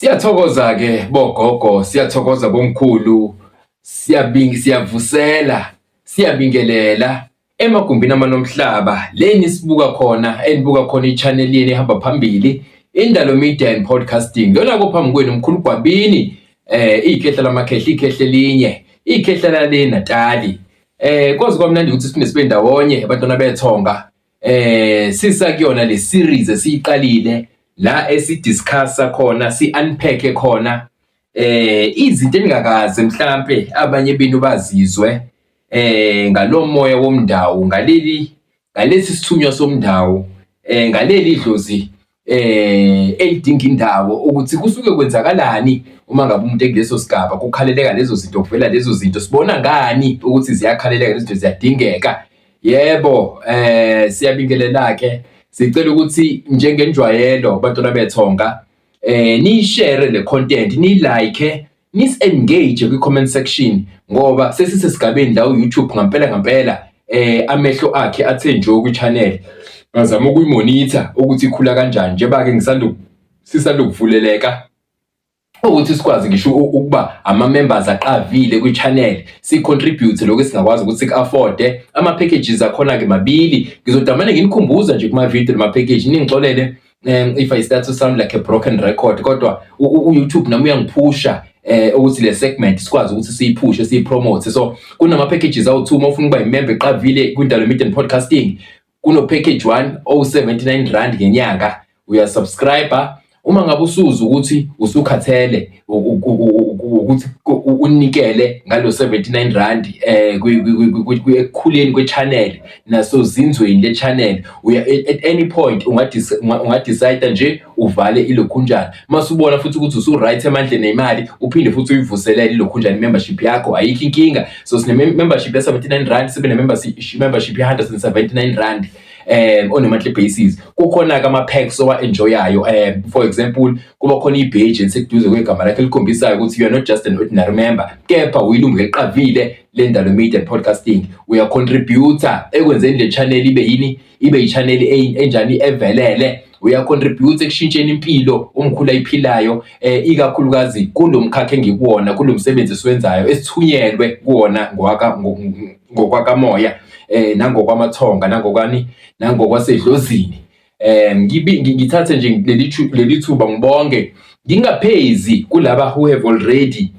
Siyathokoza ke bogogo, siyathokoza bomkhulu, siyabinga siyavusela, siyabingelela emagumbini amanomhlaba leni sibuka khona enibuka khona i-channel yeni ehamba phambili Indalo Media and Podcasting lona kophambi kwenu mkhulu Gwabini eh ikhehla lamakhehla ikhehla elinye ikhehla lale Natali eh kwazi kwamnandi ukuthi siphinde sibe ndawonye abantwana bethonga eh sisa kuyona le series esiyiqalile la esidiscussa khona si unpack khona eh izinto engakaze mhlambe abanye benu bazizwe eh ngalomoya womndawo ngaleli ngalesi sithunywa somndawo eh ngaleli idlozi elidinga indawo ukuthi kusuke kwenzakalani uma ngabe umuntu ekuleso sigaba kukhaleleka lezo zinto kuvela lezo zinto sibona ngani ukuthi ziyakhaleleka lezo zinto ziyadingeka yebo eh siyabingelela ke sicela ukuthi njengenjwayelo bantwana bethonga eh niyishare le content ni like Nis-engage kwi-comment section ngoba sesisesigabeni la u-YouTube ngampela ngampela eh amehlo akhe athe nje kwi-channel ngazama ukuyimonitha ukuthi ikhula kanjani njengoba-ke ngisanda sisanda ukuvuleleka ukuthi sikwazi ngisho ukuba ama-members aqavile kwi-channel si-contribute lokho esingakwazi ukuthi siku-afode ama-packages akhona-ke mabili ngizodamane nginikhumbuza nje kuma-video nama-package ningixolele um if i start to sound like a broken record kodwa uyoutube nami uyangiphusha eh ukuthi le segment sikwazi ukuthi siyiphushe siyipromote so kunama packages awu2 uma ufuna ukuba imember eqavile kwindalo media and podcasting kuno package 1 o79 rand ngenyanga uyasubscriber uma ngabe usuza ukuthi usukhathele ukuthi unikele ngalo 79 rand eh kuyekhuleni kwechannel naso zinzweni lechannel uya at any point ungadecide nje uvale ilokhunjana masubona futhi ukuthi usu right emandleni nemali uphinde futhi uyivuselele ilokhunjana membership yakho ayikho inkinga so sine membership ya 79 rand sibe ne membership membership ya 179 rand eh on a monthly basis kukhona ke ama packs owa enjoyayo eh for example kuba khona ibheji eliseduze kwegama lakhe likhombisayo ukuthi you are not just an ordinary member kepha uyilungu eliqavile lendalo media and podcasting uya contributor ekwenzeni le channel ibe yini ibe i channel enjani evelele uyacontribute ekushintsheni impilo umkhulu ayiphilayo eh, ikakhulukazi kulo mkhakha engikuwona kulo msebenzi esiwenzayo esithunyelwe kuwona ngokwaka ngo- ngo- ngokwakamoya eh, nangokwamathonga nangokwani nangokwasedlozini eh, ngibi- ngi- ngithathe nje leli thu- leli thuba ngibonge ngingaphezi kulaba who have already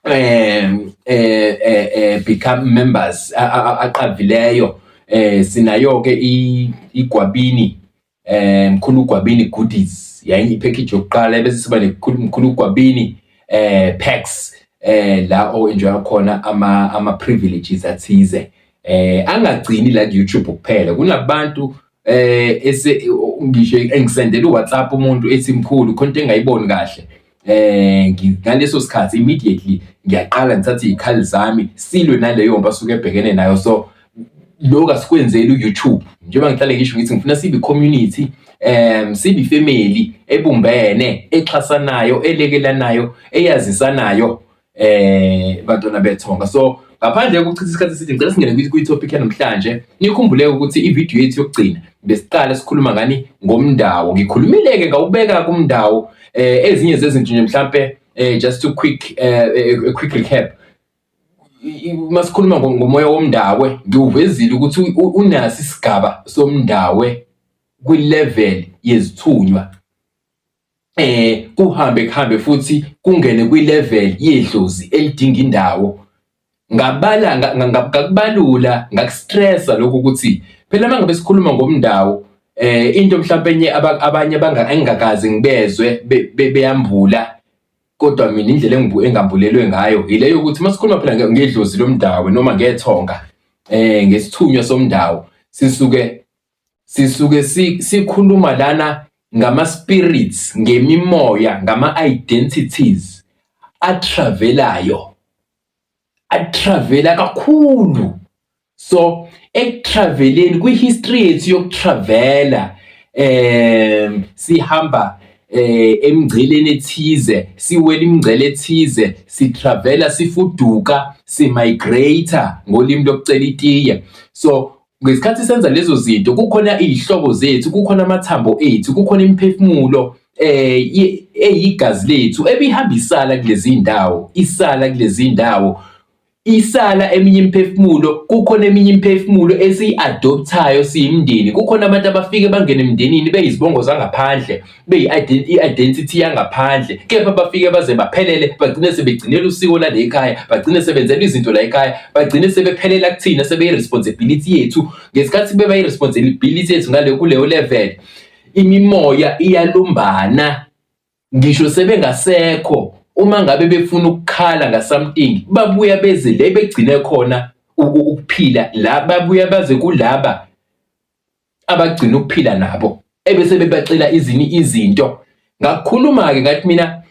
um eh, eh, eh, become members a- a- a- aqavileyo eh sinayo ke i- igwabini eh mkhulu gwabini goodies yayi ipackage yokuqala bese siba nekhulu mkhulu gwabini eh packs eh la o enjoy khona ama ama privileges athize eh angagcini la ku YouTube kuphela kunabantu eh ese ngisho engisendela uWhatsApp umuntu ethi mkhulu khona into engayiboni kahle eh ngaleso sikhathi immediately ngiyaqala ngithatha izikhali zami silwe naleyo mba suke ebhekene nayo so lokho asikwenzeli uYouTube njengoba ngihlale ngisho ngithi ngifuna sibe community um sibe family ebumbene exhasanayo elekelanayo eyazisanayo eh bantwana bethonga so ngaphandle kokuchitha isikhathi eside ngicela singene kwi-topic yanamhlanje nikhumbuleke ukuthi ividiyo yethu yokugcina besiqale sikhuluma ngani ngomndawo ngikhulumile-ke ngawubeka kumndawo um eh, ezinye zezinto nje mhlampe um eh, just to quick um quick recap uma sikhuluma ngomoya womndawe ngiwuvezile ukuthi unaso isigaba somndawe kwi-level yezithunywa eh kuhambe kuhambe futhi kungene kwilevel yedlozi elidinga indawo ngabala ngakubalula ngakustressa lokho ukuthi phela mangabe sikhuluma ngomndawo eh into mhlawumbe enye abanye abangakazi ngibezwe beyambula kodwa mina indlela engibu engambulelwe ngayo yileyo ukuthi masikhuluma phela ngedlozi lomndawo noma ngethonga eh ngesithunywa somndawo sisuke sisuke sikhuluma lana ngama-spirits ngemimoya ngama-identities atravelayo atravela kakhulu so ekutraveleni kwi-history yethu yokutravela um sihamba eh emngceleni ethize siwela imingcele ethize sitravela sifuduka simigrate ngolimi lokucela itiye so Ngesikhathi senza lezo zinto kukhona iy'hlobo zethu, kukhona amathambo ethu, kukhona imiphefumulo eh eyigazi lethu ebihambisala kulezi ndawo, isala kulezi ndawo. Isala eminye imiphefumulo, kukhona eminye imiphefumulo esiyi-adopthayo siyimindeni. Kukhona abantu abafike bangene emndenini beyizibongo zangaphandle. beyi-identity yangaphandle kepha bafike baze baphelele bagcine sebegcinela usiko lale ekhaya bagcine sebenzela izinto la ekhaya bagcine sebephelela kuthina sebeyi-responsibility yethu ngesikhathi bebayi-responsibility yethu ngale kuleyo level imimoya iyalumbana ngisho sebengasekho uma ngabe befuna ukukhala ngasamting babuya beze le begcine khona ukuphila la babuya baze kulaba abagcina ukuphila nabo ebese bebacela izini izinto ngakukhuluma ke ngathi mina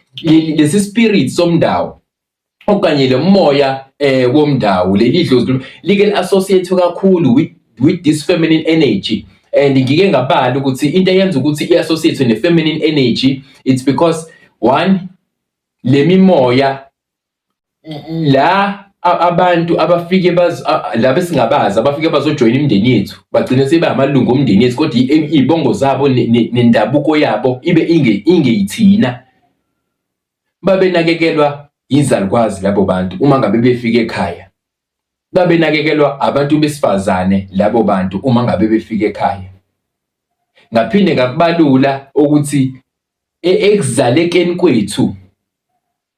lesi spirit somndawo okanye lo moya eh womndawo leli dlozi like associate kakhulu with with this feminine energy and ngike ngabala ukuthi into eyenza ukuthi iassociate ne feminine energy it's because one lemimoya la abantu abafike laba esingabazi abafike bazojoyina imindeni yethu bagcine sebe amalungu omndeni yethu kodwa iy'bongo zabo nendabuko yabo ibe ingeyithina babenakekelwa yizalukwazi labo bantu uma ngabe befike ekhaya babenakekelwa abantu besifazane labo bantu uma ngabe befike ekhaya ngaphinde ngakubalula ukuthi e-, ekuzalekeni kwethu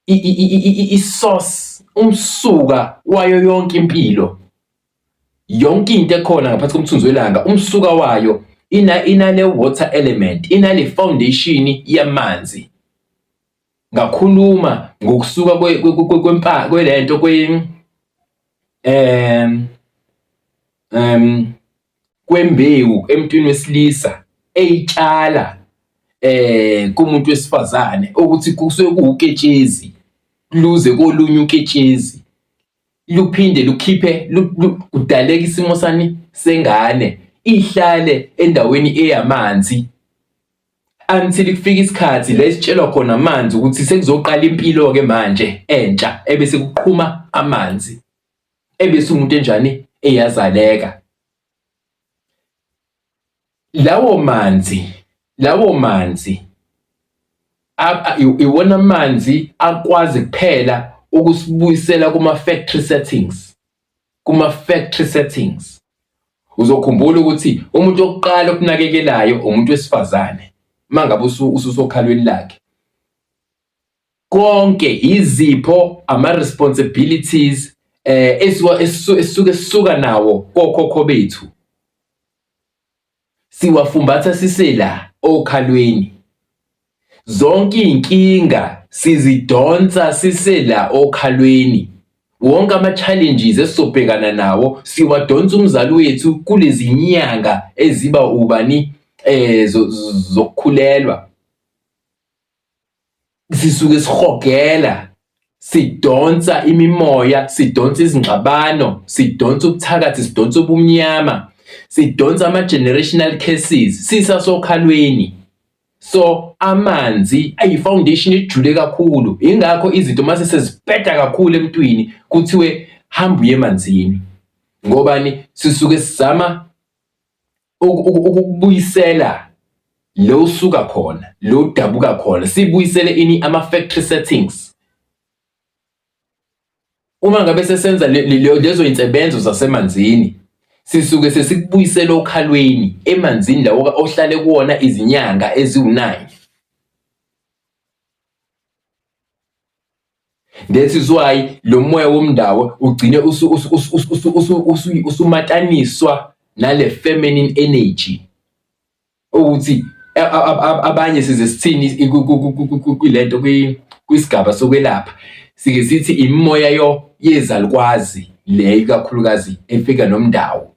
i-source umsuka wayo yonke impilo yonke into ekhona ngaphansi komthunzi welanga umsuka wayo ina inale water element inale foundation yamanzi ngakhuluma ngokusuka kwempa kwelento kwe em em kwembewu emntwini wesilisa eyitshala eh kumuntu wesifazane ukuthi kusuke kuwuketshezi luze kolunye uketshezi luphinde lukhiphe kudaleka isimo sani sengane ihlale endaweni eyamanzi until kufika isikhathi la esitshelwa khona amanzi ukuthi sekuzoqala impilo-ke manje entsha ebese kuqhuma amanzi ebese umuntu enjani eyazaleka lawo manzi lawo manzi iwona manzi akwazi kuphela ukusibuyisela kuma factory settings kuma factory settings uzokhumbula ukuthi umuntu okuqala okunakekelayo umuntu wesifazane mangabe ususokhalweni lakhe konke yizipho ama responsibilities eh esiwa esisuke sisuka nawo kokhokho bethu siwafumbatha sisela okhalweni zonke inkinga sizidonsa sisela okhalweni wonke ama challenges esizobhekana nawo siwadonsa umzali wethu kulezi nyanga eziba ubani eh zokukhulelwa sisuke sihogela sidonsa imimoya sidonsa izingxabano sidonsa ubuthakathi sidonsa ubumnyama sidonsa ama-generational cases sisasokhalweni so amanzi ayi-foundation ejule kakhulu yingakho izinto uma sesezibheda kakhulu emntwini kuthiwe hamba uye emanzini ngobani sisuke sizama ukubuyisela lo usuka khona lo udabuka khona sibuyisele ini ama factory settings uma ngabe sesenza lezo insebenzo zasemanzini sisuke sesikubuyisela okhalweni emanzini lawo ohlale kuwona izinyanga eziwu-9 That is why lo moya womndawo ugcine usumataniswa nale feminine energy ukuthi abanye size sithini kulento kwisigaba sokwelapha sike sithi imimoya yo yezalukwazi le ikakhulukazi efika nomndawo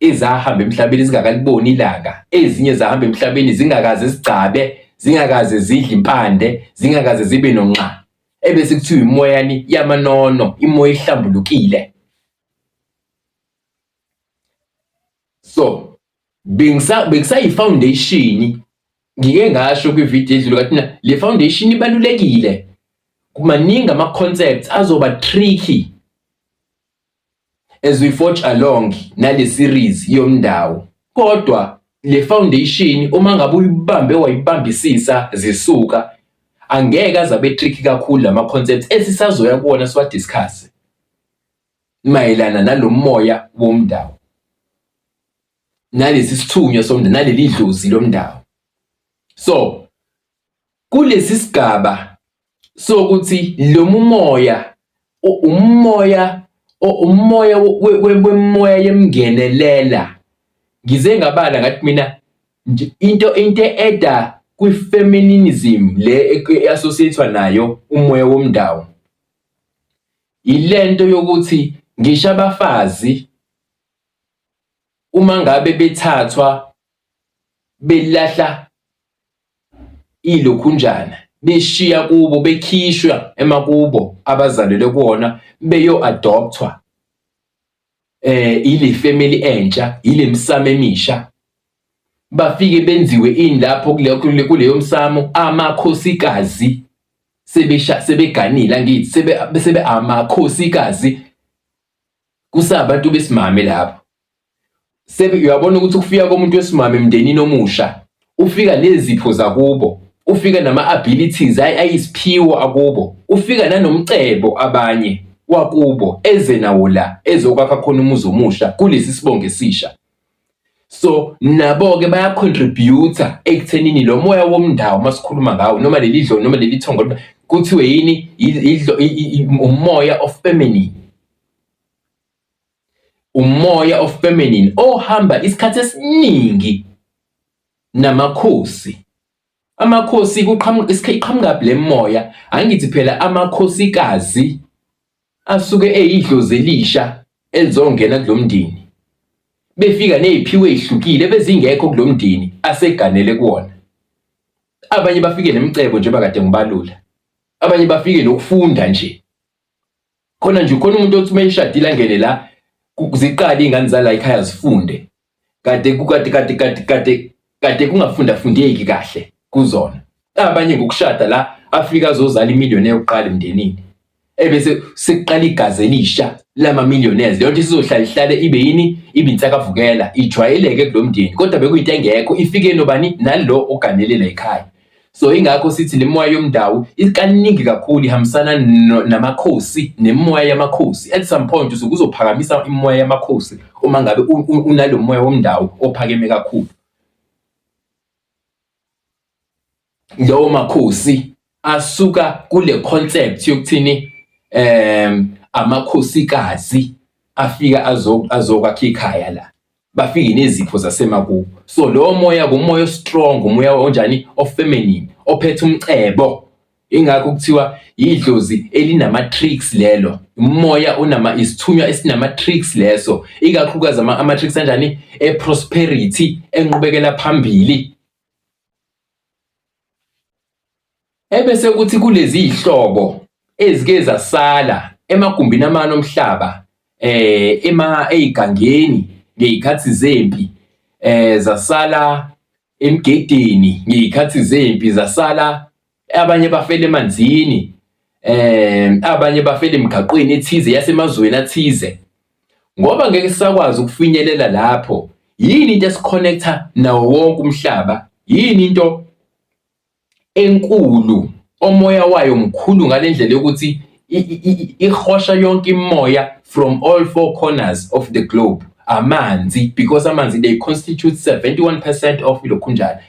ezahamba emhlabeni zingakaliboni ilanga ezinye zahamba emhlabeni zingakaze zigcabe zingakaze zidle impande zingakaze zibe nonxa ebese kuthiwa imoyani yamanono imoya ehlambulukile so bengisa bekusayi foundation ngike ngasho kwi video edlule kathina le foundation ibalulekile kumaningi ama concepts azoba tricky as we forge along nale series yomndawo kodwa le foundation uma ngabe uyibambe wayibambisisa zisuka angeke azabe tricky kakhulu lama concepts esisazoya kuwona siwa discuss mayelana nalomoya womndawo nalesi sithunywa somndawo naleli dlozi lomndawo so Kulesi sigaba sokuthi lo mumoya umoya umoya wemoya yemngenelela ngize ngabala ngathi mina nje into into eda kwi-feminism le e-associate-wa nayo umoya womndawo. Yilento yokuthi ngisho abafazi uma ngabe bethathwa belahla ilokhunjana beshiya kubo bekhishwa emakubo abazalelwe kuwona beyo-adopthwa eh ile family entsha ile misamo emisha bafike benziwe ini lapho kuleyo msamo amakhosikazi sebesha sebeganile angithi sebe sebe amakhosikazi kusabantu besimame lapho uyabona ukuthi ukufika komuntu wesimame emndenini omusha ufika nezipho zakubo ufika nama-abilities ayisiphiwo akubo ufika nanomcebo abanye wakubo eze nawo la ezokwakha khona umuzi omusha kulesi sibongo esisha so nabo-ke bayacontributa ekuthenini lo moya womndawo uma sikhuluma ngawo noma leli dlo noma leli thongo kuthiwe yini umoya of feminine Umoya ofeminine ohamba isikhathi esiningi namakhosi. Amakhosi kuqhamuka iqhamukaphi le moya? Angithi phela amakhosikazi asuke eyidlozi elisha elizongena kulo mndeni. Befika neziphiwo ezihlukile bezingekho kulo mndeni aseganele kuwona. Abanye bafike nemicebo njengoba kade ngibalula. Abanye bafike nokufunda nje. khona nje khona umuntu othi uma ishadile angene la ku- ziqale iy'ngane zala ekhaya zifunde kade ku- kade kade kade kade kade kungafunda fundeki kahle kuzona abanye ngokushada la afika azozala imiliyoni yokuqala emndenini ebese sekuqala igazi elisha lama-millionaires leyo nto isizohlala ihlale ibe yini ibe insakavukela ijwayeleke kulo mndeni kodwa bekuyinto engekho ifike nobani nalo oganele la ekhaya So ingakho sithi le moya yomndawo ikaningi kakhulu ihambisana namakhosi nemoya yamakhosi. At some point usuke uzophakamisa imoya yamakhosi uma ngabe unalo moya womndawo ophakeme kakhulu. Lawo makhosi asuka kule concept yokuthini um amakhosikazi afika azokwakha ikhaya la. bafike nezipho zasemakubo so lowo moya kumoya ostrong umoya onjani ofeminine ophethe umcebo ingakho kuthiwa yidlozi elinama tricks lelo umoya unama isithunywa esinama tricks leso ikakhulukazi ama, ama tricks anjani e prosperity enqubekela phambili Ebese kuthi kulezi zihlobo ezike zasala emagumbini amane omhlaba eh ema eyigangeni ngezikhathi zempi eh zasala emgedeni ngezikhathi zempi zasala abanye bafela emanzini eh abanye bafela emgaqweni ethize yasemazweni athize ngoba ngeke sakwazi ukufinyelela lapho yini into esikhonectha nawo wonke umhlaba yini into enkulu omoya wayo mkhulu ngale ndlela yokuthi ihosha yonke imimoya from all four corners of the globe amanzi because amanzi they constitute 71 percent of ilokhunjana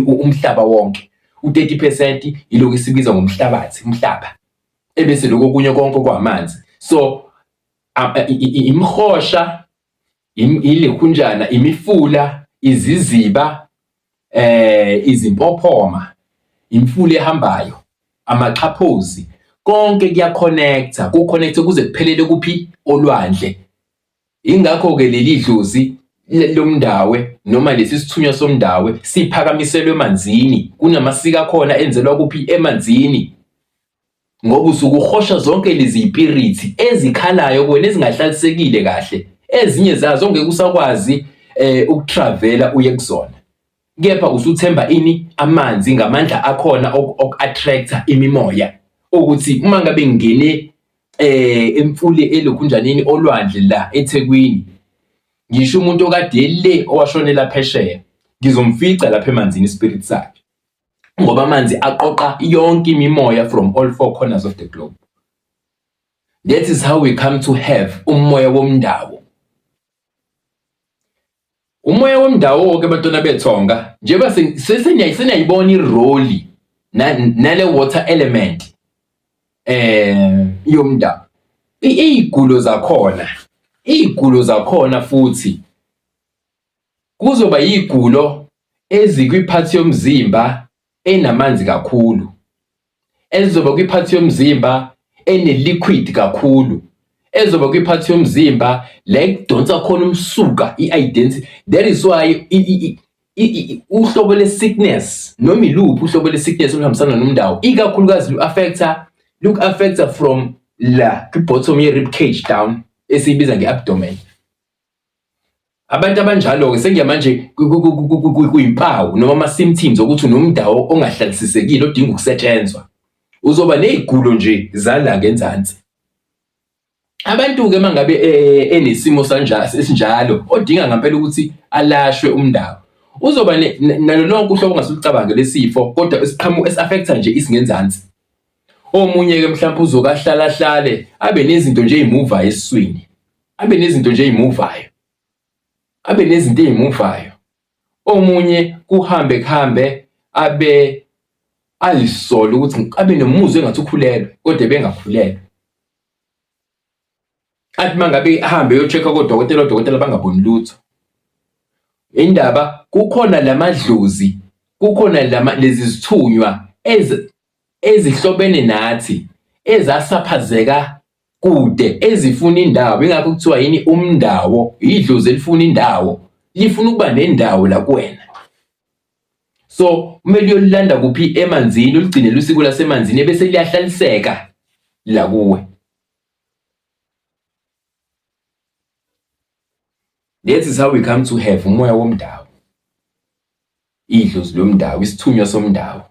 umhlaba wonke u-30 percent yilokhu esibiza ngomhlabathi umhlaba ebese lokho kunye konke kwamanzi so imihosha ilekhunjana imifula iziziba eh izimpophoma imfula ehambayo amaxhaphozi konke kuyaconnecta kuconnecte kuze kuphelele kuphi olwandle ingakho ke leli dlozi lomndawe noma lesi sithunywa somndawe siphakamiselwe emanzini kunamasiko akhona enzelwa kuphi emanzini ngoba usuke uhosha zonke lezi ipirithi ezikhalayo kuwena ezingahlalisekile kahle ezinye zazo ongeke usakwazi eh ukutravela uye kuzona kepha usuthemba ini amanzi ngamandla akhona oku-attractor imimoya ukuthi uma ngabe ngingene eh emfule elokhunjaneni olwandle la eThekwini ngisho umuntu okade le owashonela phesheya ngizomfica lapha emanzini ispirit sakhe ngoba amanzi aqoqa yonke imimoya from all four corners of the globe that is how we come to have umoya womndawo umoya womndawo wonke abantwana bethonga njengoba seniyayibona iroli nale water element eh yomndawo iy'gulo zakhona iy'gulo zakhona futhi Kuzoba yigulo ezikwiphathi yomzimba enamanzi kakhulu, ezizoba kwiphathi yomzimba ene-liquid kakhulu, ezoba kwiphathi yomzimba la ekudonsa khona umsuka i-identity. That is why uhlobo le-sickness noma iluphi uhlobo le-sickness oluhambisana nomndawo, ikakhulukazi lu-affect-a, luku-affect-a from la kwi-bottom ye-rib cage down esiyibiza nge-abdomen. Abantu abanjalo-ke sengiyamanje kuyimpawu noma ama-symptoms okuthi unomdawo ongahlalisiseki odinga ukusetshenzwa. Uzoba ney'gulo nje zala ngenzansi. Abantu-ke uma ngabe eh, enesimo esinjalo odinga ngampela ukuthi alashwe umndawo uzoba nalo lonke uhlobo ongase ulicabange lesifo kodwa isiqhamu esi-affektha nje isingenzansi. Omunye-ke mhlawumpe uzokahlalahlale abe nezinto nje ey'muvayo esiswini. abe nezinto nje ezimuvayo abe nezinto ezimuvayo omunye kuhambe kuhambe abe ayisola ukuthi abe nomuzwa engathi ukhulelwe kodwa bengakhulelwe athi mangabe ahambe yochecka kodokotela odokotela bangaboni lutho indaba kukhona lamadlozi kukhona lama lezi zithunywa ezihlobene nathi ezasaphazeka kude ezifuna indawo ingakho kuthiwa yini umndawo idlozi elifuna indawo lifuna ukuba nendawo la kuwena so kumele uyolilanda kuphi emanzini uligcine lusiko lasemanzini ebese liyahlaliseka la kuwe that is how we come to have umoya womndawo idlozi lomndawo isithunywa somndawo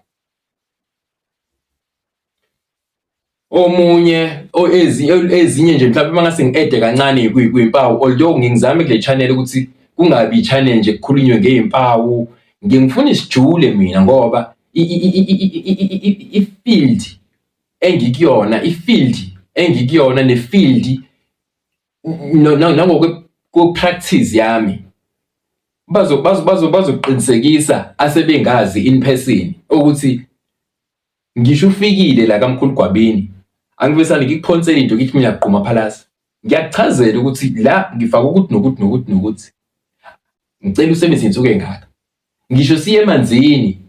omunye ezinye nje mhlawumbe uma ngase ngi-ede kancane kwimpawu although ngingizame kule channel ukuthi kungabi i-channel nje kukhulunywe ngey'mpawu ngiye ngifune isijule mina ngoba i-field engikuyona i-field engikuyona ne-field nangokwe-practice yami bazoqinisekisa asebengazi in person ukuthi Ngisho ufikile la kamkhulu Gwabini angivesane ngikuphonsele into ngithi mina gquma phalasa. Ngiyakuchazela ukuthi la ngifaka ukuthi nokuthi nokuthi nokuthi. Ngicela usebenzise insuku engaka. Ngisho siye emanzini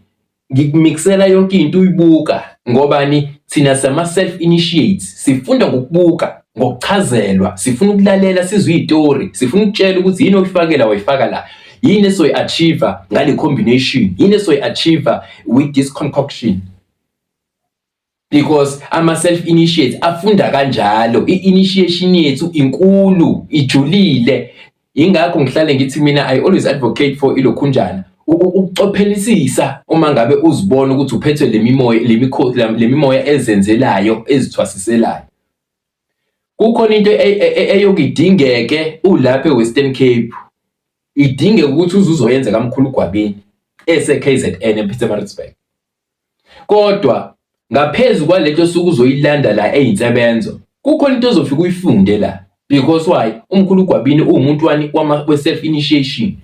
ngikumiksela yonke into uyibuka ngobani thina sama self initiates sifunda ngokubuka ngokuchazelwa sifuna ukulalela sizwe izitori sifuna ukutshela ukuthi yini oyifakela wayifaka la yini esoyi achieve ngale combination yini esoyi achieve with this concoction because ama self initiates afunda kanjalo i initiation yethu inkulu ijulile ingakho ngihlale ngithi mina i always advocate for ilokhunjana ukucophelisisa uma ngabe uzibona ukuthi uphethwe lemimoya lemikhosi lemimoya ezenzelayo ezithwasiselayo Kukhona into e, e, e, eyokidingeke ulapha eWestern Cape idingeka ukuthi uze uzoyenza kamkhulu gwabini ese-KZN ePietermaritzburg kodwa ngaphezu kwalento suku uzoyilanda la eyinsebenzo kukhona into ozofika uyifunde la because why umkhulu gwabini uwumuntu wani wama self initiation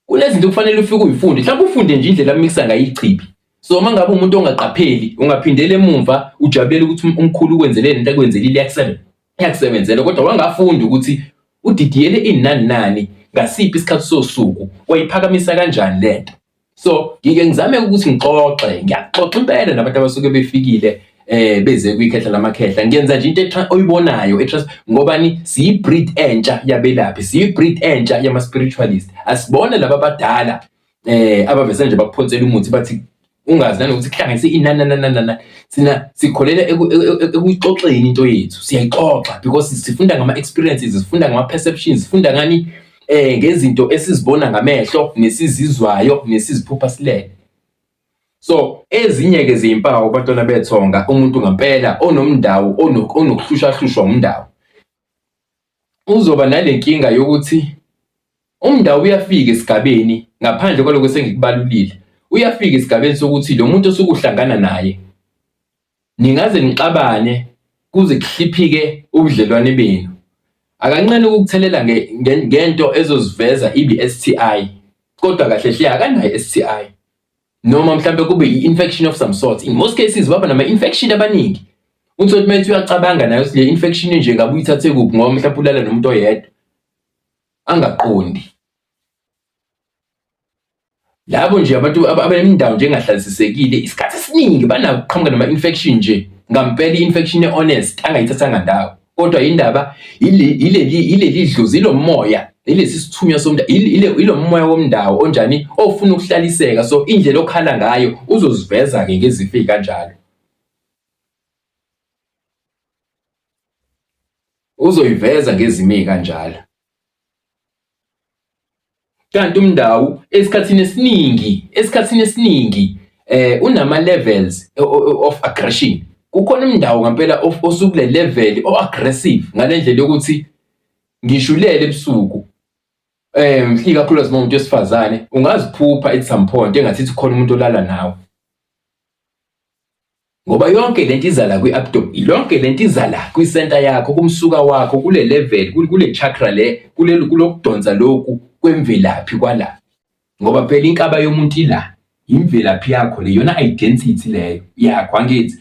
Kunezinto okufanele ufike uyifunde. Mhlawumbe ufunde nje indlela amikisa ngayo ichibi. So uma ngabe umuntu ongaqapheli ungaphindela emumva ujabulele ukuthi um-, umkhulu ukwenzeleni into akwenzelile yakusebenza. Yakusebenzela kodwa wangafunda ukuthi udidiyele inani nani ngasiphi isikhathi sosuku wayiphakamisa kanjani lento. So ngike ngizame ukuthi ngixoxe, ngiyaxoxa impela nabantu abasuke befikile eh beze kwikhehla lamakhehla ngenza nje into oyibonayo etrust ngobani siyibreed entsha yabelaphi siyibreed entsha yama spiritualist asibone laba badala eh abavese nje bakuphonsela umuthi bathi ungazi nanokuthi kuhlanganise inana nana nana sina sikholela ekuxoxeni into yethu siyayixoxa because sifunda ngama experiences sifunda ngama perceptions sifunda ngani eh ngezinto esizibona ngamehlo nesizizwayo nesiziphupha silele so ezinye ke ziyimpawu abantwana bethonga umuntu ngampela onomndawo onokuhlushahlushwa umndawo uzoba nale nkinga yokuthi umndawo uyafika esigabeni ngaphandle kwaloko sengikubalulile uyafika esigabeni sokuthi lo muntu osukuhlangana naye Ningaze nixabane kuze kuhliphike ubudlelwane benu. Akancane ukukuthelela ngento ezoziveza ibe STI kodwa kahle hle akanayo STI. Noma mhlambe kube i-infection of some sort. In most cases baba nama-infection abaningi. Uthi uthi methi uyacabanga nayo ukuthi le infection nje ngabe uyithathe kuphi ngoba mhlawumbe ulala nomuntu oyedwa angaqondi. Labo nje abantu abanemindawo nje engahlalisesekile isikhathi esiningi banakuqhamuka nama-infection nje ngampela i-infection e-honest angayithathanga ndawo kodwa indaba ileli dlozi ilo moya ilesi sithunywa somntu ilo moya womndawo onjani ofuna ukuhlaliseka so indlela okhala ngayo uzoziveza-ke ngezifo ey'kanjalo uzoyiveza ngezimo ey'kanjalo Kanti uMndawu esikhathini esiningi esikhathini esiningi eh unama levels of aggression. Kukhona uMndawu ngampela osukule level o aggressive ngalendlela yokuthi ngishulele ebusuku eh ikakhulukazi uma umuntu wesifazane ungaziphupha at some point engathi khona umuntu olala nawe Ngoba yonke lento iza la kwi-abdomen, yonke lento iza la kwi-center yakho, kumsuka wakho, kule level, kule chakra le, kulelu kulokudonsa lokhu kwemvelaphi kwala. Ngoba phela inkaba yomuntu ila, imvelaphi yakho le, yona identity leyo yakho, angithi?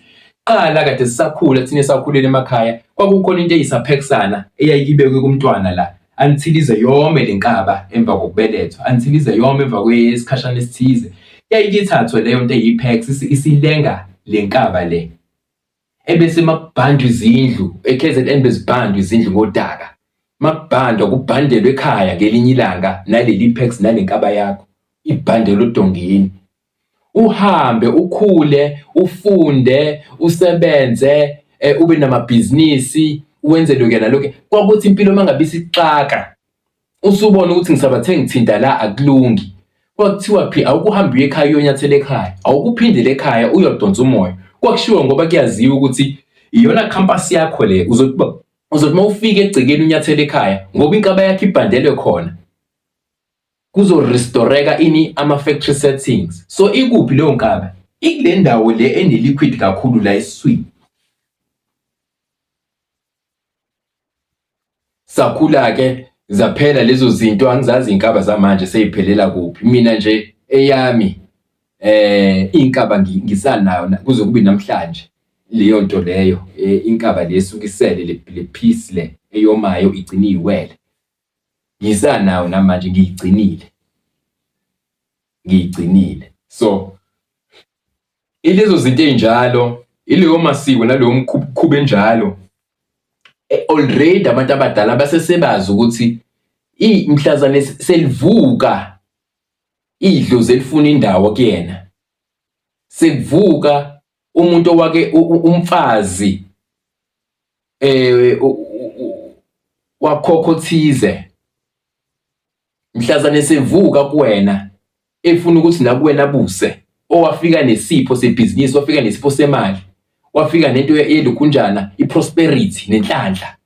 Qala kade sisakhula thina esakhulela emakhaya, kwakukhona into eyisaphekisana eyayikibekwe kumntwana la, until ize yome le nkaba emva kokubelethwa until ize yome emva kwesikhashana esithize yayike ithathwe leyo nto eyi-pax isilenga le nkaba le ebese makubhandwa izindlu e-kzn bezibhandwa izindlu ngodaka makubhandwa kubhandelwe ekhaya ngelinye ilanga naleli-pax nale nkaba yakho ibhandelwe odongeni uhambe ukhule ufunde usebenze eh, ube namabhizinisi wenze lokhu nalokhu kwakuthi impilo uma ngabe isixaka usubona ukuthi ngisabathe ngithinta la akulungi kwakuthiwa phi awukuhambi uye ekhaya uyonyathela ekhaya awukuphindele ekhaya uyodonsa umoya kwakushiwo ngoba kuyaziwa ukuthi iyona campus yakho le uzothi uzothi uma ufika egcekeni unyathela ekhaya ngoba inkaba yakho ibhandelwe khona kuzo restoreka ini ama factory settings so ikuphi leyo nkabi ikule ndawo le ene liquid kakhulu la esiswini sakhula ke zaphela lezo zinto angizazi inkaba zamanje seyiphelela kuphi mina nje eyami eh inkaba ngisanayo kuze kube namhlanje leyo nto leyo eh, inkaba lesukisele le piece le eyomayo igciniwele Ngisanayo namanje ngiyigcinile. Ngiyigcinile. So ilezo zinto ezinjalo, ileyo masiko naleyo mkhuba enjalo. E, already abantu abadala basesebazi ukuthi i mhlazane selivuka idlozi elifuna indawo kuyena. Sekuvuka umuntu owake umfazi eh wakhokho thize mhlazane sevuka kuwena efuna ukuthi nakuwena buse owafika nesipho sebhizinisi wafika nesipho semali wafika nento yelukhunjana iprosperity nenhlanhla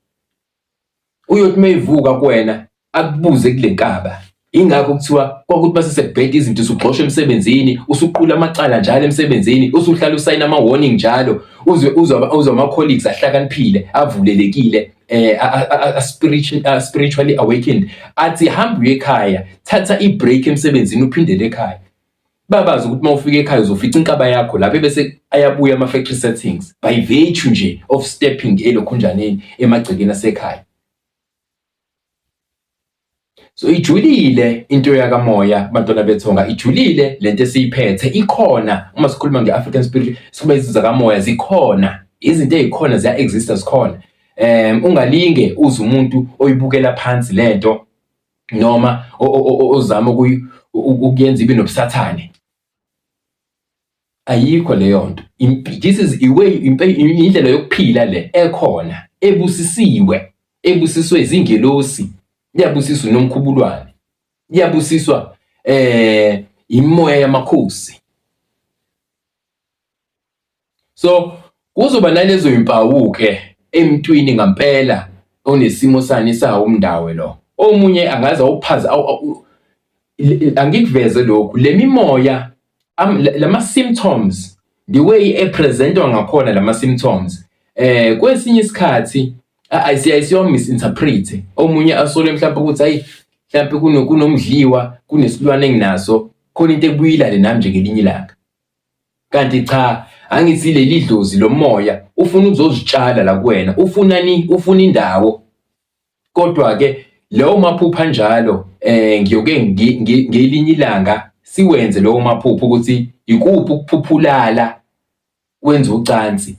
uyothi mayivuka kuwena akubuze kule nkaba ingakho kuthiwa kwakuthi base sekubheda izinto usugxosha emsebenzini usuqula amacala njalo emsebenzini usuhlala usayina ama warning njalo uzwe uzwa uzwa ama colleagues ahlakaniphile avulelekile eh spiritual spiritually awakened athi hamba uye ekhaya thatha i break emsebenzini uphindele ekhaya babazi ukuthi mawufika ekhaya uzofica inkaba yakho lapho bese ayabuya ama factory settings by virtue nje of stepping elokhunjaneni emagcekeni asekhaya So ijulile into yakamoya bantwana bethonga ijulile lento esiyiphethe ikhona uma sikhuluma nge-African spirit sikhuluma izinto zakamoya zikhona izinto ezikhona ziya exista zikhona um ungalinge uze umuntu oyibukela phansi lento noma ozama ukuyenza ibe nobusathane ayikho leyo nto this is iway indlela yokuphila le ekhona ebusisiwe ebusiswe izingelosi iyabusiswa nomkhubulwane iyabusiswa eh imoya yamakhosi So kuzoba nalezo mpawu-ke emntwini ngampela onesimo sani sawo umndawe lo. Omunye angaze awuphaza angikuveze lokhu le mimoya lama-symptoms the way epresentwa ngakhona lama-symptoms eh kwesinye isikhathi ayisiwa misinterpret omunye asole mhlawumbe ukuthi hayi mhlawumbe kunomdliwa kunesilwane enginaso khona into ekubuyilale nami nje ngelinye ilanga Kanti cha angithi leli dlozi lomoya ufuna ukuzozitshala la kuwena ufuna ni ufuna indawo kodwa ke lowo maphupha njalo eh ngiyoke ngelinye ilanga siwenze lowo maphupha ukuthi ikuphi ukuphuphulala wenza ucansi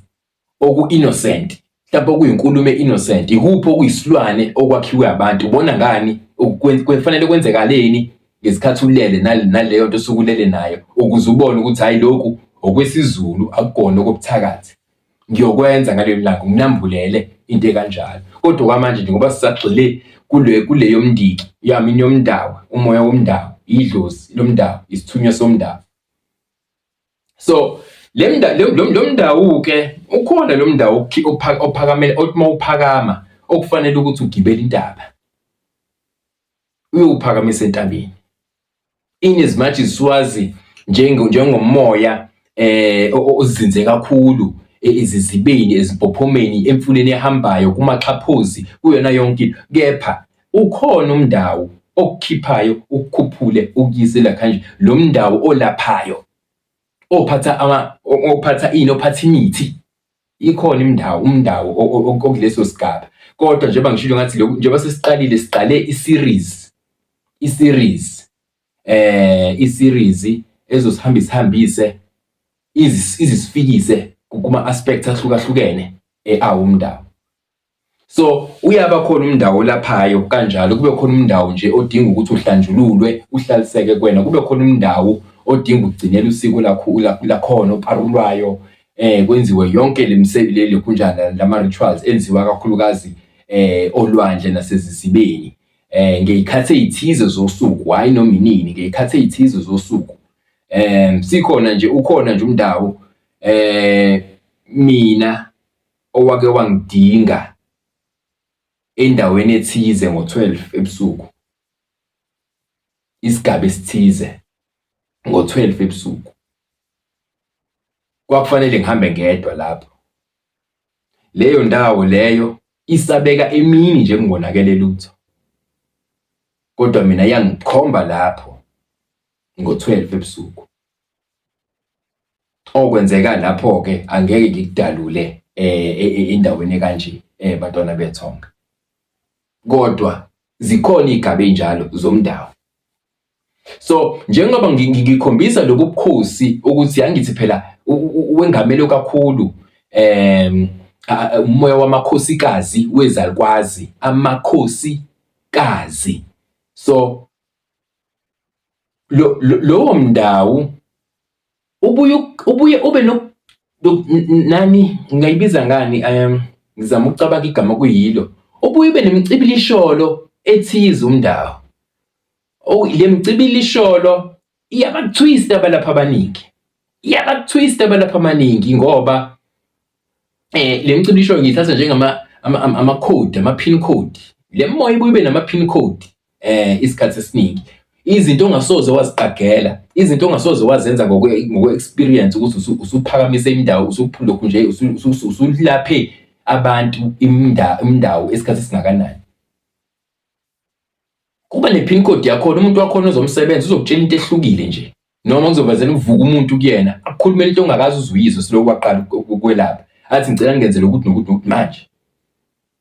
oku-innocent mhlawumbe okuyinkulumo e-innocent ikuphi okuyisilwane okwakhiwe abantu ubona ngani kufanele kwenzekaleni ngesikhathi ulele naleyo nto osuke ulele nayo ukuze ubone ukuthi hhayi lokhu okwesiZulu akukona okobuthakathi ngiyokwenza ngaleli langa nginambulele into ekanjalo kodwa kwamanje nje ngoba sisagxile kule kule yomndiki yamini yomndawo umoya womndawo idlozi lomndawo isithunywa somndawo so lo mndawu-ke ukhona lo mndawu ophakamele othi uma uphakama okufanele ukuthi ugibele intaba uyowuphakamisa entabeni in as much as siwazi njengomoya eh ozinze kakhulu e, izizibeni ezimpophomeni emfuleni ehambayo kumaxhaphozi kuyona yonke kepha Ukhona umndawo okukhiphayo ukukhuphule ukuyise la kanje lo mndawo olaphayo ophatha ama ophatha ini ophatha imithi ikhona imndawo umndawo okuleso sigaba kodwa njengoba ngishilo ngathi lokhu njengoba sesiqalile siqale i-series i-series eh i-series ezosihamba isihambise izisifikise kuma aspects ahlukahlukene eawo eh, umndawo So uyaba khona umndawo olaphayo kanjalo kube khona umndawo nje odinga ukuthi uhlanjululwe uhlaliseke kwena kube khona umndawo odinga ukugcinela usiko lakho lakhona oparulwayo eh kwenziwe yonke lemisebenzi leli kunjana lama rituals enziwa kakhulukazi eh olwandle nasezisibeni eh ngeyikhathi ezithize zosuku hayi noma inini ngeyikhathi ezithize zosuku eh sikhona nje ukhona nje umndawo eh mina owake wangidinga endaweni ethize ngo-12 ebusuku isigaba esithize ngo-12 ebusuku kwakufanele ngihambe ngedwa lapho leyo ndawo leyo isabeka emini nje kungonakele lutho kodwa mina yangikhomba lapho ngo-12 ebusuku okwenzeka lapho ke angeke ngikudalule eh, eh, eh endaweni ekanje eh bantwana bethonga kodwa zikhona igaba enjalo zomndawo so njengoba ngikhombisa lobu bukhosi ukuthi yangithi phela wengamelo kakhulu em umoya wamakhosikazi wezalukwazi amakhosi kazi so lo, lo, lowo mndawo ubuye ubuye ube no nani ngayibiza ngani um ngizama ukucabanga igama kuyilo ubuye ube nemicibilisholo ethize umndawo oh le micibilisholo iyabathwista abalapha abaningi iyabathwista abalapha amaningi ngoba eh le micimbi isho ngiyithatha njengama ama code ama pin code le moya ibuye ibe nama pin code eh isikhathi esiningi izinto ongasoze waziqagela izinto ongasoze wazenza ngokwe-experience ukuthi usuphakamise indawo usuphulokhu nje usulaphe abantu indawo esikhathi esingakanani kuba ne-pin code yakhona umuntu wakhona ozomsebenza uzokutshela into ehlukile nje noma kuzovazela uvuka umuntu kuyena akukhulumele into ongakazi uzuyizwe siloku waqala ukwelapha athi ngicela ngenzele ukuthi nokuthi nokuthi manje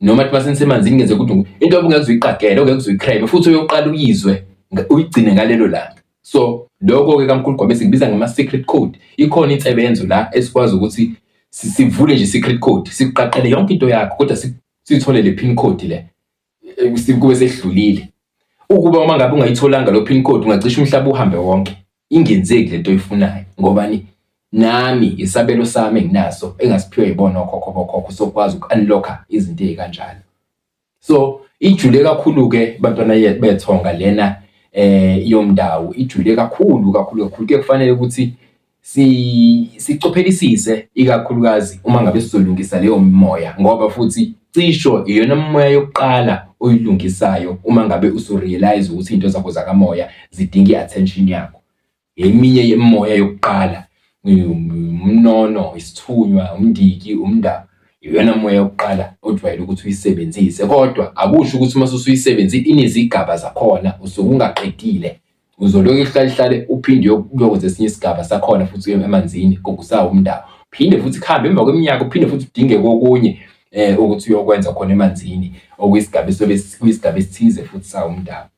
noma athi masenisemanzini ngenze ukuthi nokuthi into obungeke uzoyiqagele ongeke uzoyicrime futhi uyoqala uyizwe uyigcine ngalelo langa so lokho-ke kamkhulu gwabe sikubiza ngama-secret code ikhona insebenzo la esikwazi ukuthi sivule nje i-secret code sikuqaqele yonke into yakho kodwa siyitholele i-pin code le kube sesidlulile ukuba uma ngabe ungayitholanga lo pin code ungacisha umhlaba uhambe wonke ingenzeki lento oyifunayo ngobani nami isabelo sami enginaso engasiphiwe yibona okhokho bokhokho sokwazi uku-unlocka izinto ey'kanjalo so ijule kakhulu-ke bantwana bethonga lena eh yomndawo ijule kakhulu kakhulu kakhulu kuye kufanele ukuthi si sicophelisise ikakhulukazi uma ngabe sizolungisa leyo mimoya ngoba futhi cisho iyona mimoya yokuqala oyilungisayo uma ngabe usurealize ukuthi into zakho zakamoya zidinga i-attention yakho eminye yemoya yokuqala umnono isithunywa umndiki umndaba iyona moya yokuqala ojwayele ukuthi uyisebenzise kodwa akusho ukuthi uma usuyisebenzile inezigaba zakhona usuke ungaqedile Uzolokhu ihlale ihlale uphinde uyokwenza esinye isigaba sakhona futhi uye emanzini kokusawo umndaba. Phinde futhi kuhambe emva kweminyaka uphinde futhi udinge kokunye eh ukuthi uyokwenza khona emanzini okuyisigaba esobe kuyisigaba esithize futhi sawo umndaba.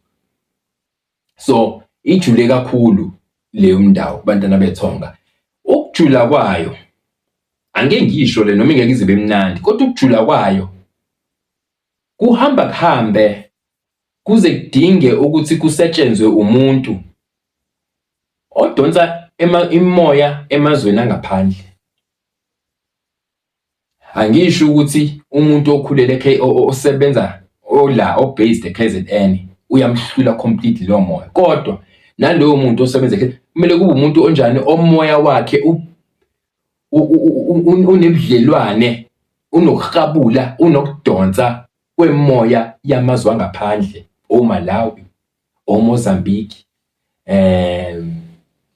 So ijule kakhulu leyo mndawo kubantwana bethonga. Ukujula kwayo angeke ngisho le noma ingeke izibe mnandi kodwa ukujula kwayo kuhamba kuhambe kuze kudinge ukuthi kusetshenzwe umuntu odonsa imimoya emazweni angaphandle. Angisho ukuthi umuntu okhulele osebenza ola o-based e-K_Z_N uyamhlula completely lowo moya kodwa nalowo muntu osebenza kumele kube umuntu onjani omoya wakhe unebudlelwane unokuhabula unokudonsa kwemoya yamazwe angaphandle oMalawi oMozambique um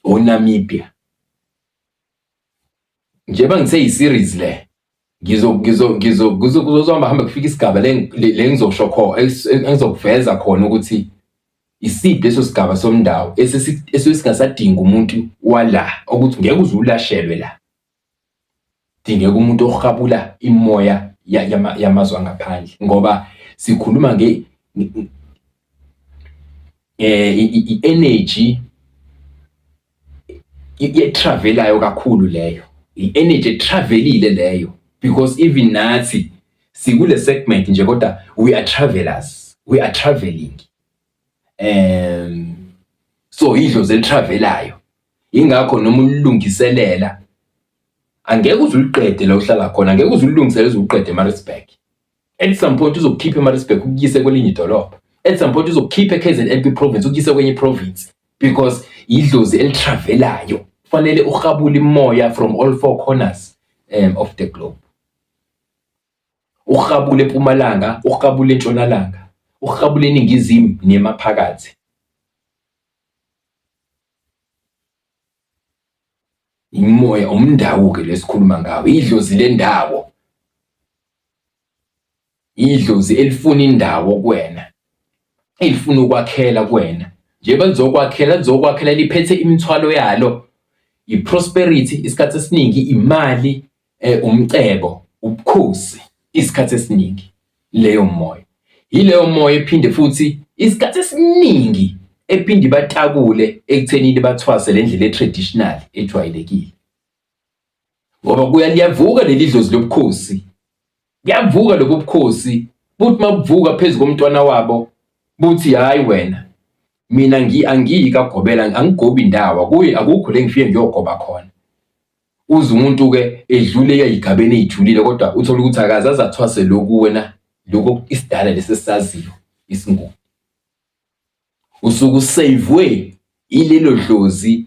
oNamibia njengoba ngithe yi-series le ngizo ngizo ngizo kuzohamba hamba kufika isigaba le ngizosho khona engizokuveza khona ukuthi isiphi leso sigaba somndawo esesingasadinga umuntu wala ukuthi ngeke uze ulashelwe la Kudingeka umuntu ohabula imimoya yamazwe angaphandle ngoba sikhuluma nge eh i-energy etravelayo kakhulu leyo i-energy etravelile leyo because even nathi sikule segment nje kodwa we are travelers we are traveling um so idlozi elitravelayo Yingakho noma ulilungiselela angeke uze uliqede la uhlala khona, angeke uze ulilungisele uze uqede eMaritzburg. At some point uzokukhipha eMaritzburg ukuyise kwelinye idolobha. At some point uzokukhipha eKZNP province ukuyise kwenye province because idlozi elitravelayo. Kufanele urhabule imoya from all four corners um, of the globe. Urhabule eMpumalanga, urhabule eNtshonalanga, urhabule eNingizimu nemaphakathi. Imoya umndawo-ke lesikhuluma ngawo, idlozi lendawo. Idlozi elifuna indawo kuwena, elifuna ukwakhela kuwena. Njengoba lizokwakhela, lizokwakhela liphethe imithwalo yalo, i-prosperity isikhathi esiningi imali, eh, umcebo ubukhosi isikhathi esiningi leyo moya yileyo moya ephinde futhi isikhathi esiningi ephinde ibatakule ekuthenini bathwase le ndlela e-traditional ejwayelekile ngoba kuya liyavuka leli dlozi lobukhosi Kuyavuka lobu bukhosi buthi mabuvuka phezu komntwana wabo buthi hayi wena mina ngi angiyi kagobela angigobi ndawo kuye akukho le ngifike ngiyogoba khona uze umuntu ke edlule eyigabeni ejulile kodwa uthola ukuthi akaze azathwase lokhu wena lokho isidala lesisaziyo isingubo usuku savwe ilelo dlozi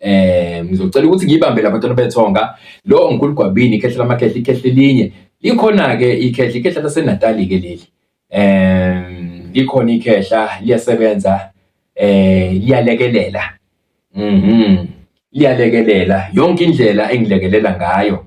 Eh ngizocela ukuthi ngiyibambe labantwana bethonga lo ngikulu gwabini ikhehle lamakhehla ikhehle elinye likhona ke ikhehle ikhehle laseNatali ke leli eh likhona ikhehla liyasebenza eh liyalekelela mhm liyalekelela yonke indlela engilekelela ngayo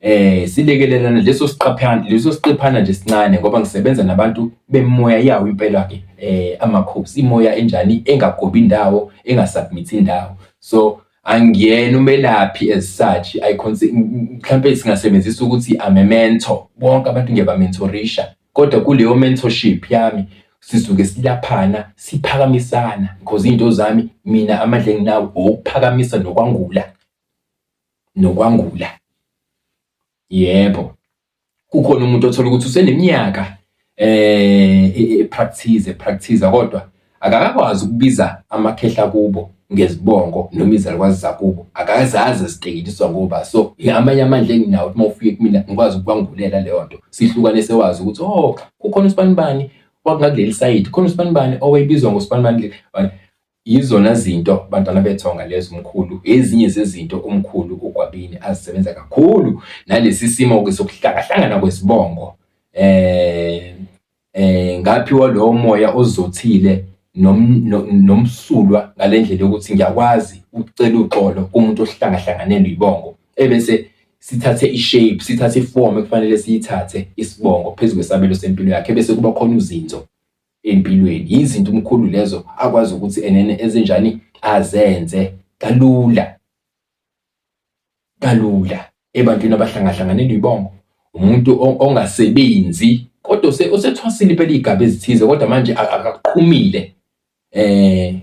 Eh silekelelana leso siqaphana leso siqephana nje sincane ngoba ngisebenza nabantu bemoya yawo impela ke eh amakhosi imoya enjani engagobi indawo engasubmit indawo so angiyena umelaphi as such i consider mhlambe singasebenzisa ukuthi I'm a mentor bonke abantu ngiyabamentorisha kodwa kuleyo mentorship yami sisuke silaphana siphakamisana because into zami mina amandla enginawo okuphakamisa nokwangula nokwangula. Yebo, kukhona umuntu othola ukuthi useneminyaka eh e, e, practice practice kodwa akakakwazi ukubiza amakhehla kubo ngezibongo noma izalukwazi zakubo akazazi zitekeliswa ngoba so amanye amandla enginawo uma ufike kumina ngikwazi ukwangulela leyo nto sihlukane sewazi ukuthi oh kukhona usibanibani wakungakuleli sayidi khona usibanibani owayibizwa ngosibanibani Yizona zinto bantwana bethonga lezo umkhulu, ezinye zezinto umkhulu uGwabini azisebenza kakhulu nalesi simo-ke sokuhlakahlangana kwezibongo eh eh ngaphiwa lowo moya ozothile nomsulwa ngale ndlela yokuthi ngiyakwazi ukucela uxolo kumuntu ohlangahlanganelwe ibongo ebese sithathe i-shape sithathe ifomu ekufanele siyithathe isibongo phezu kwesabelo sempilo yakhe bese kuba khona uzinzo empilweni yizinto umkhulu lezo akwazi ukuthi enene ezinjani azenze kalula kalula ebantwini abahlangahlanganeni uyibongo umuntu ongasebenzi kodwa osethwasile impela iy'gaba ezithize kodwa manje akaqhumile eh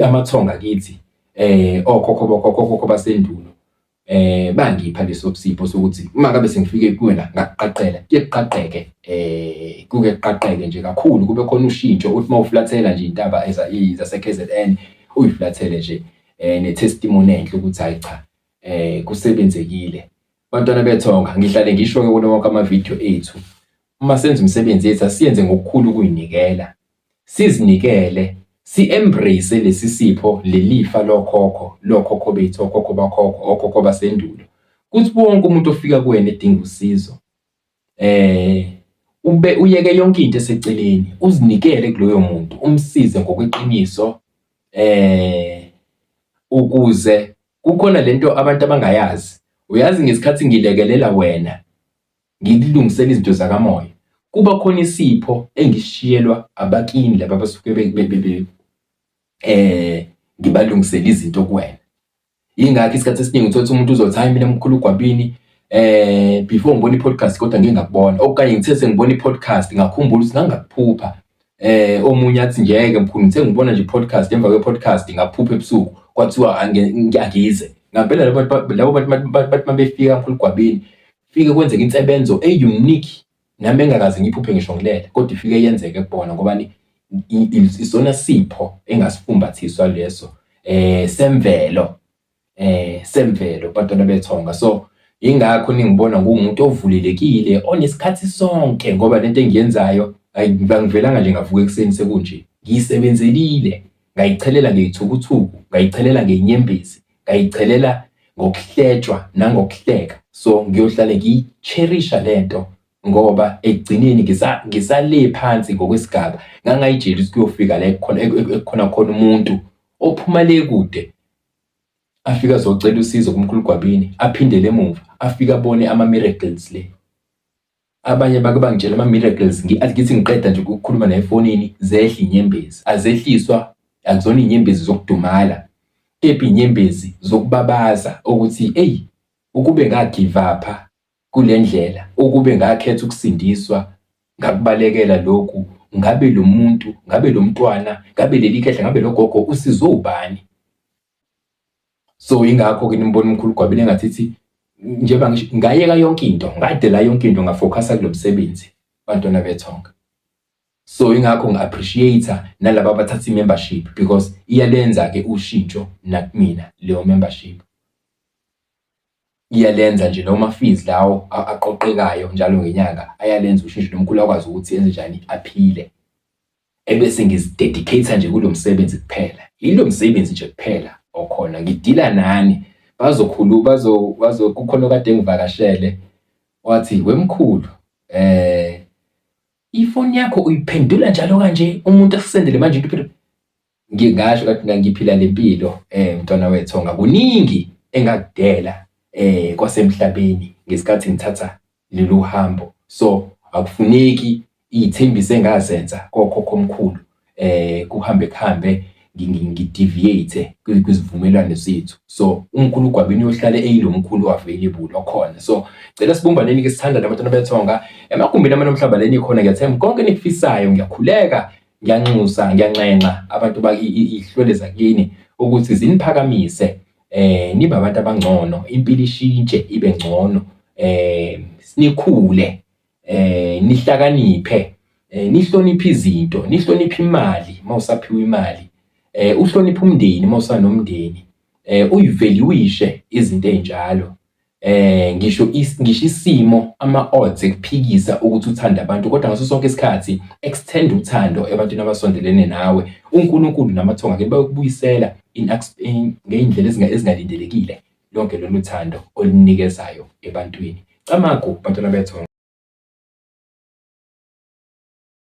amathonga kithi eh okhokho bokhokho basendulo eh bangipha lesopsipho sokuthi uma kabe sengifike kuwena ngakuqaqela kuyeqaqeke eh kuke kuqaqeke nje kakhulu kube khona ushintsho uthi mawuflathela nje intaba eza izase KZN uyiflathele nje eh ne testimony enhle ukuthi hayi cha eh kusebenzekile bantwana bethonga ngihlale ngisho ke kulo wonke ama video ethu uma senza umsebenzi ethu asiyenze ngokukhulu kuyinikela sizinikele, si-embrace lesi sipho, lelifa lokhokho, lokhokho bethu, okhokho bakhokho, okhokho basendulo. Kuthi wonke umuntu ofika kuwena edinga usizo, eh ube uyeke yonke into eseceleni, uzinikele kuloyo muntu, umsize ngokweqiniso, eh ukuze kukhona lento abantu abangayazi. Uyazi ngesikhathi ngilekelela wena, ngililungisela izinto zakamoya kuba khona isipho engishiyelwa abakini laba abasuke eh ngibalungisela izinto kuwena ingakho isikhathi esiningi uthola umuntu uzothi hayi mina mkhulu ugwabini eh before ngibona i-podcast kodwa ngike ngakubona okanye ngithe sengibona i-podcast ngakhumbula ukuthi ngangakuphupha eh omunye athi ngeke mkhulu ngithe ngibona nje podcast emva kwe-podcast ngaphupha ebusuku kwathiwa angize ngampela labo bantu labo bantu bathi mabefika mkhulu gwabini Fike kwenzeka insebenzo e-unique nami engakaze ngiphuphe ngisho ngilele kodwa ifike yenzeke kubona ngoba isona sipho engasifumbathiswa leso eh semvelo eh semvelo bantwana bethonga so ingakho ningibona ngumuntu ovulelekile onesikhathi sonke ngoba lento engiyenzayo angivelanga nje ngavuka ekuseni sekunje ngiyisebenzelile ngayichelela ngeyithukuthuku ngayichelela ngenyembezi ngayicelela ngokuhletshwa nangokuhleka so ngiyohlale ngiyicherisha lento ngoba ekugcineni ngisa ngisale phansi ngokwesigaba ngangayijeli ukuthi kuyofika la ekukhona ekukhona khona umuntu ophuma le kude afika azocela usizo kumkhulu gwabini aphindele emuva afike abone ama miracles le Abanye bake bangitshela ama-miracles ngi-athi ngithi ngiqeda nje ukukhuluma naye efonini zehle inyembezi. Azehliswa, akuzona iy'nyembezi zokudumala kepha iy'nyembezi zokubabaza ukuthi eyi ukube ngagivapha kule ndlela, ukube ngakhetha ukusindiswa ngakubalekela lokhu, ngabe lo muntu, ngabe lo mntwana, ngabe leli khehla, ngabe lo gogo usizwe ubani? so ingakho ke nimbona umkhulu gwabile engathi ithi njengoba ngisho ngayeka yonke into ngadela yonke into ngafocusa kulo msebenzi bantwana bethonga so ingakho ngi-appreciate nalaba abathatha i-membership because iyalenza ke ushintsho nakumina leyo membership iyalenza nje noma fees lawo aqoqekayo njalo ngenyanga ayalenza ushintsho nomkhulu akwazi ukuthi enze njani aphile ebese ngizidedicate nje kulo msebenzi kuphela yilo msebenzi nje kuphela okhona ngidila nani bazokhulu bazo bazo kukhona kade ngivakashele wathi wemkhulu eh ifoni yakho uyiphendula njalo kanje umuntu akusendele manje into Ngingasho ngathi mina ngiphila le mpilo um mntwana wethonga, kuningi engakudela um kwasemhlabeni ngesikhathi ngithatha lolu hambo. So akufuneki iy'thembiso engazenza kokhokho omkhulu um kuhambe kuhambe ngideviate kwizivumelwano zethu. So umkhulu uGwabini uyohlale eyilo mkhulu available okhona. So cela sibumbaneni-ke sithandane abantwana bethonga, emagumbini amanomhlaba la enikhona ngiyathemba konke enikufisayo ngiyakhuleka Ngiyanxusa ngiyanxenxa abantu bakihlwele zakini ukuthi ziniphakamise eh nibe abantu abangcono impilo ishintshe ibe ngcono eh sinikhule eh nihlakaniphe eh nihloniphe izinto nihloniphe imali mawusaphiwa imali eh uhloniphe umndeni mawusanomndeni eh uyivaluishe izinto ezinjalo Eh, ngisho is, ngisho isimo ama-odds ekuphikisa ukuthi uthande abantu kodwa ngaso sonke isikhathi extend uthando ebantwini abasondelene nawe unkulunkulu namathonga ke bayokubuyisela ngey'ndlela ezingalindelekile lonke lolu thando olunikezayo ebantwini camagu bantwana bethonga